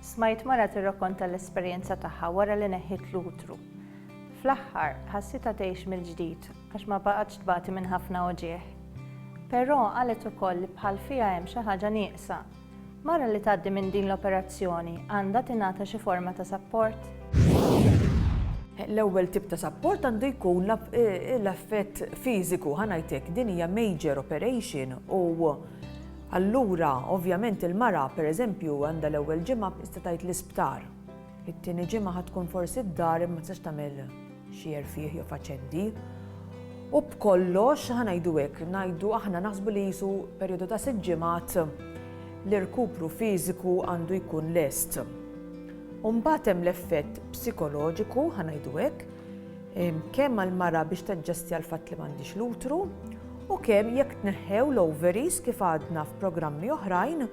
Smajt mara tirrakonta l-esperjenza tagħha wara li neħħiet l-utru. Fl-aħħar, ħassitha tgħix mill-ġdid għax ma baqgħetx tbati minn ħafna uġigħ. Però qalet ukoll li bħal fiha hemm xi ħaġa nieqsa. Mara li tgħaddi minn din l-operazzjoni għandha tingħata xi forma ta' sapport? L-ewwel tip ta' sapport għandu jkun eh, l-affett fiżiku, ħanajtek din hija major operation u Allura, ovvjament il-mara, per eżempju, għandha l-ewwel ġimgħa b'qista tgħid l-isptar. It-tieni ġimgħa ħa tkun forsi d-dar imma tistax tagħmel xi erfieħ jew faċendi. U b'kollox, ħa ngħidu hekk, ngħidu aħna naħsbu li qisu perjodu ta' sitt ġimgħat l-irkupru fiżiku għandu jkun lest. U mbagħad hemm l-effett psikoloġiku, ħa ngħidu hekk, kemm għall-mara biex taġġestja l-fatt li m'għandhiex l-utru u kemm jekk tneħħew l-ovaries kif għadna f'programmi oħrajn,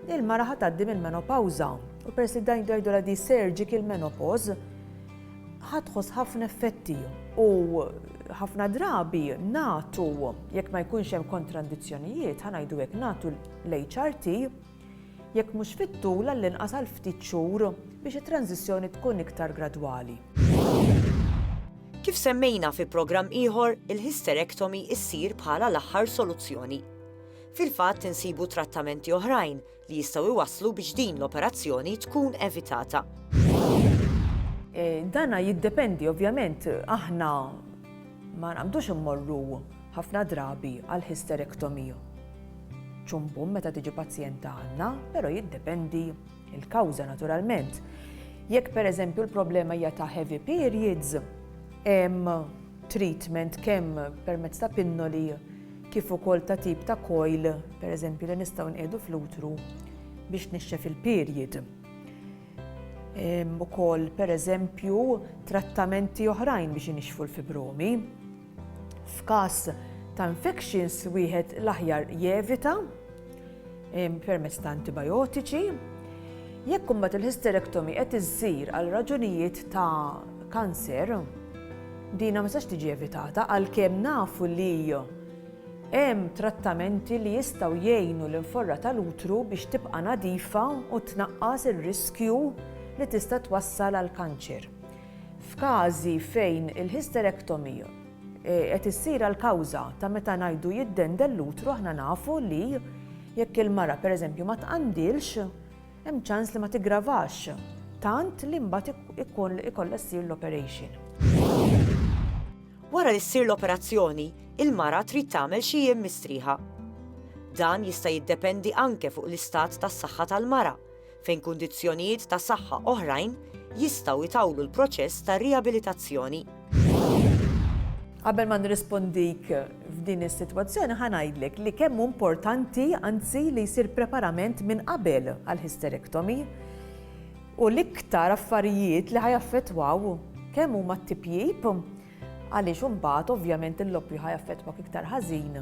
il-mara ħa tgħaddi mill-menopawża u peress li dan jgħidulha di surgical menopause ħa tħoss ħafna effetti u ħafna drabi nagħtu jekk ma jkunx hemm kontrandizzjonijiet ħa ngħidu hekk nagħtu l-HRT jekk mhux fit-tul għall-inqas għal ftit xhur biex it-tranżizzjoni tkun iktar gradwali. Kif semmejna fi programm ieħor, il-hysterectomy issir bħala l-aħħar soluzzjoni. Fil-fatt insibu trattamenti oħrajn li jistgħu iwasslu biex din l-operazzjoni tkun evitata. E, dana jiddependi ovvjament aħna ma naqbdux immorru ħafna drabi għal hysterectomy. Ċumbum meta tiġi pazjent għandna, però jiddependi il-kawża naturalment. Jekk pereżempju l-problema hija ta' heavy periods, hemm treatment kemm permezz ta' pinnoli kif ukoll ta' tip ta' coil, pereżempju li nistgħu nqiegħdu fl-utru biex nixxef il-period. Ukoll pereżempju trattamenti oħrajn biex inixxfu l-fibromi. F'każ ta' infections wieħed l-aħjar jevita permezz ta' antibijotiċi. Jekk imbagħad il-hysterectomy qed issir għal raġunijiet ta' kanser, dina ma sax tiġi evitata għalkemm nafu li hemm trattamenti li jistgħu jgħinu l-inforra tal-utru biex tibqa' nadifa u tnaqqas ir-riskju li tista' twassal għall-kanċer. F'każi fejn il-hysterectomy qed issir għall-kawża ta' meta ngħidu jiddendel l-utru aħna nafu li jekk il-mara pereżempju ma tqandilx hemm ċans li ma tiggravax tant li mbagħad ikun ikollha ssir l-operation. Wara li ssir l-operazzjoni, il-mara trid tagħmel xi jiem mistrieħa. Dan jista' jiddependi anke fuq l-istat tas-saħħa tal-mara, fejn kundizzjonijiet ta' saħħa oħrajn jistgħu jtawlu l-proċess ta' riabilitazzjoni. Qabel ma nirrispondik f'din is-sitwazzjoni ħa ngħidlek li kemm hu importanti anzi li jsir preparament minn qabel għal hysterectomy u l-iktar affarijiet li ħajaffettwaw kemm huma t-tipjip għaliex imbagħad ovvjament il-loppju ħajaffettwak iktar ħażin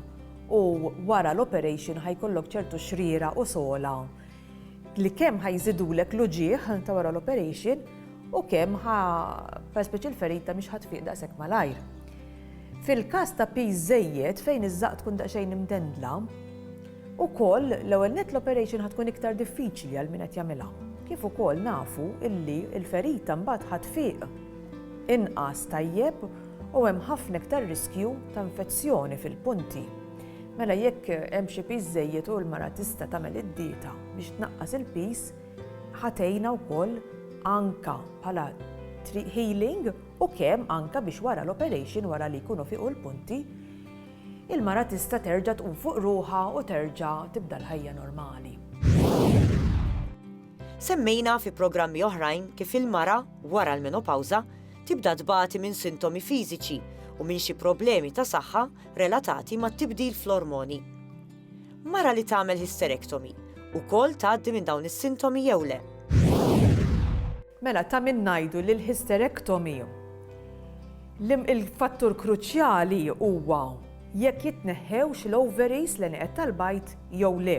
u wara l-operation ħajkollok ċertu xriera u sola li kemm ħa jżidulek l-uġigħ ta' wara l-operation u kemm ħa perspiċi l-ferita mhix ħadd fiq daqshekk malajr. Fil-każ ta' piż żejjed fejn iż-żaqq tkun daqsxejn imdendla, ukoll l-ewwel net l-operation ħa tkun iktar diffiċli għal min qed jagħmilha. Kif ukoll nafu illi l-ferita mbagħad ħadd fiq inqas tajjeb u hemm ħafna iktar riskju ta' infezzjoni fil-punti. Mela jekk hemm xi piż żejjed u l-mara tista' tagħmel id-dieta biex tnaqqas il-piż, ħatejna wkoll anka bħala healing u kemm anka biex wara l-operation wara li jkunu fiqu l-punti il-mara tista' terġa' tqum fuq ruħha u terġa' tibda l-ħajja normali. Semmejna fi programmi oħrajn kif il-mara wara l-menopawża tibda tbati minn sintomi fiżiċi u minn xi problemi ta' saħħa relatati mat-tibdil fl-ormoni. Mara li tagħmel hysterectomy ukoll tgħaddi minn dawn is-sintomi jew le? Mela ta' min ngħidu li l-hysterectomy il-fattur kruċjali huwa jekk jitneħħewx l-ovaries, l-għenieqed tal-bajd jew le.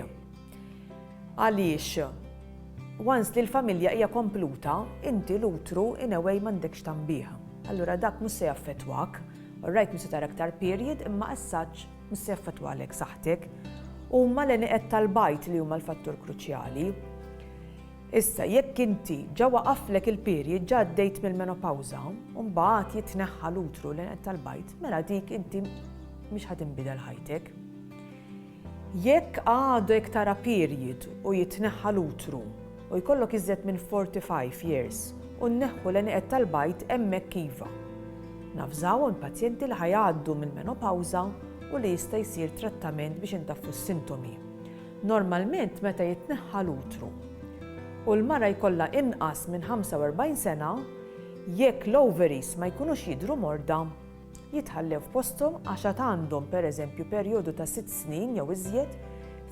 Għaliex once li l-familja hija kompluta, inti l-utru in a way m'għandekx tagħmbih. Allura dak mhux se jaffettwak. Alright mhux se tara iktar period imma as such mhux se jaffettwalek saħħtek. Huma l-għenieqed tal-bajd li huma l-fattur kruċjali. Issa jekk inti ġa waqaflek il-period ġa għaddejt mill-menopawża u mbagħad jitneħħa l-utru l-għenieqed tal-bajd mela dik inti mhix ħa tinbidel ħajtek. Jekk għadek tara period u jitneħħa l-utru u jkollok iżjed minn 45 years u nneħħu l-għenieqed tal-bajd hemmhekk iva. Navżawhom il-pazjenti li ħa jgħaddu mill-menopawża u li jista' jsir trattament biex intaffu s-sintomi. Normalment meta jitneħħa l-utru u l-mara jkollha inqas minn 45 sena, jekk l-ovaries ma jkunux jidhru morda, jitħallew f'posthom għax għad għandhom pereżempju perjodu ta' sitt snin jew iżjed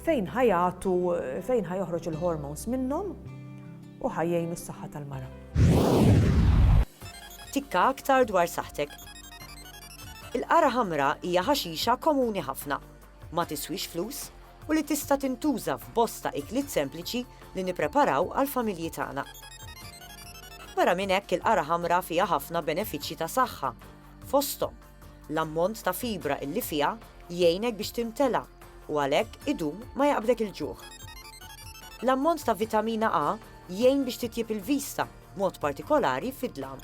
fejn ħa jagħtu fejn ħa joħroġ il-hormones minnhom u ħa jgħinu s-saħħa tal-mara. Tikka aktar dwar saħħtek. Il-qara ħamra hija ħaxixa komuni ħafna ma tiswix flus u li tista' tintuża f'bosta ikliet sempliċi li nippreparaw għall-familji tagħna. Barra minn hekk il-qara ħamra fiha ħafna benefiċċji ta' saħħa, fosthom l-ammont ta' fibra illi fiha jgħinek biex timtela u għalhekk idum ma jaqbdek il-ġuħ. L-ammont ta' vitamina A jgħin biex titjib il-vista, mod partikolari fid-dlam.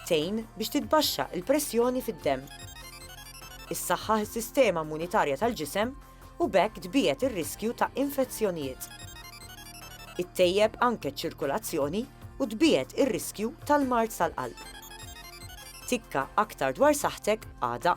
Tejn biex titbaxxa il-pressjoni fid-demm. issaħħaħ is-sistema immunitarja tal-ġisem u b'hekk tbiegħed ir-riskju ta' infezzjonijiet. Ittejjeb anke ċ-ċirkulazzjoni u tbiegħed ir-riskju tal-mard tal-qalb. Tikka aktar dwar saħħtek għada.